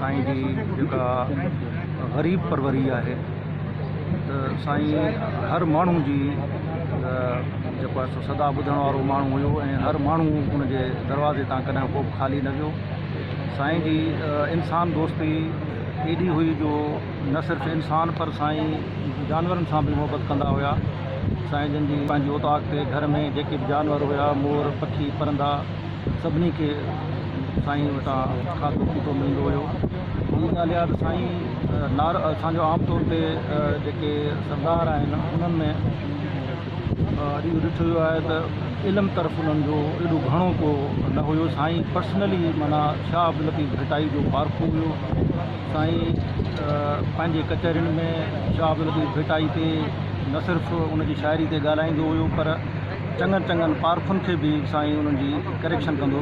سائين جي جيڪا غريب پروري آهي ته سائين هر ماڻهو جي جيڪو آهي سو صدا ٻڌڻ وارو ماڻهو هيو ۽ هر ماڻهو ان جي دروازي تان ڪڏهن ڪو به خالي نه ويو سائين جي انسان دوستي ايڏي هئي جو نه صرف انسان پر سائين جانورن سان به محبت ڪندا هيا سائين جن جي پنهنجي اوطاق تي گهر ۾ جيڪي به جانور هيا مور پکي پرندا سڀني کي سائين وٽان کاڌو پيتو ملندو هيو. ٻي ڳالهه اها ته سائين نار اسان جو عام طور تي جيڪي سردار آهن انهن ۾ اهو ڏٺو ويو آهي ته علم طرف انهن جو ايڏو گهڻو ڪو نه هيو. سائين پرسنلي معنيٰ شاهه عبداللطيف ڀٽائي جو پارکو هيو. سائين پنهنجي ڪچهرين ۾ شاهه عبداللطيف ڀٽائي تي نه صرف ان جي شاعري تي ڳالهائيندو هيو پر چڱن چڱن پارکن کي به سائين انهن جي ڪريڪشن ڪندو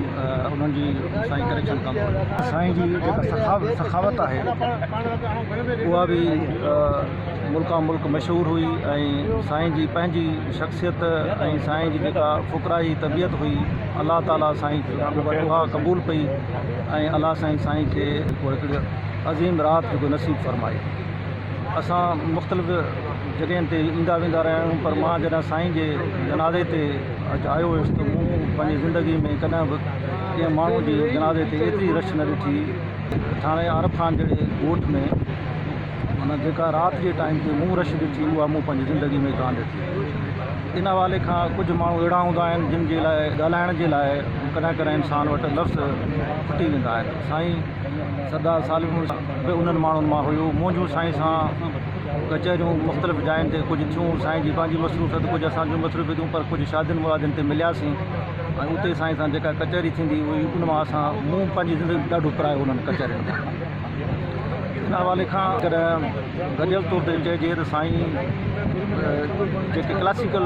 انهن جي سائين ڪريڪشن ڪندو سائين جي جيڪا سخاوت سخاوت آهي اها به ملڪان ملڪ مشهور هئي ۽ سائين جي پنهنجي شخصيت ۽ سائين جي جيڪا فقراهي طبيعت هئي الله تعالي سائين اها قبول پئي ۽ الله سائين سائين کي هڪڙي عظيم رات جيڪو نصيب فرمائي اسان مختلف جڳهين تي ايندا ويندا رهيا آهيون پر مان جڏهن سائين جي جنازي تي اچ آيو هيس ته مون پنهنجي زندگي ۾ ڪڏهن به ڪنهن ماڻهو جي جنازي تي ايتري رش نه ڏٺي ٿاڻي عارب خان جهڙي ڳوٺ ۾ معنيٰ جيڪا رات جي ٽائيم تي مون رش ڏٺي اها مون پنهنجي زندگي ۾ ڪانه ڏٺي ان حوالي کان ڪجهه ماڻهو اهڙا هوندا آهن جن جي لاء ڳالهائڻ جي لاء ڪڏهن ڪڏهن انسان وٽ لفظ ڦٽي ويندا آهن سائين سردار صالح مڙس به انهن ماڻهن مان هيو. منهنجون سائين سان ڪچهريون مختلف جاين تي ڪجهه ٿيون. سائين جي پنهنجي مصروفيت ڪجهه اسان جون مصروفيتون پر ڪجهه شادين مرادين تي ملياسين ۽ اتي سائين سان جيڪا ڪچهري ٿيندي هئي ان مان اسان مون پنهنجي زندگي ڏاڍو پرايو انهن ڪچهرين مان. ان حوالي کان جيڪڏهن گڏيل طور تي چئجي ته سائين جيڪي ڪلاسيڪل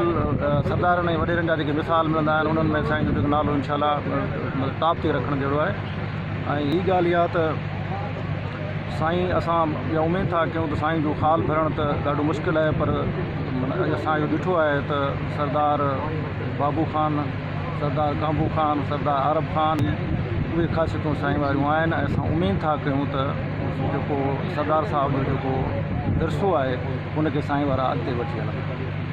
سردارن ۽ وڏيرن جا جيڪي مثال ملندا آهن انهن ۾ سائين جو جيڪو نالو انشاء الله ٽاپ تي رکڻ جهڙو آهي. ۽ ھي ڳالھ اھا ته سائين اسان اھا اميد ٿا ڪيون ته سائين جو خال ڀرڻ ته ڏاڍو مشڪل آھي پر اڄ اسان اھو ڏٺو آھي ته سردار بابو خان، سردار ڪانبو خان، سردار عارب خان ھي اھي خاصيتون سائين واريون آھن ۽ اسان اميد ٿا ڪيون ته جيڪو سردار صاحب جو جيڪو ورثو آھي ان کي سائين وارا اڳتي وٺي ھلندا.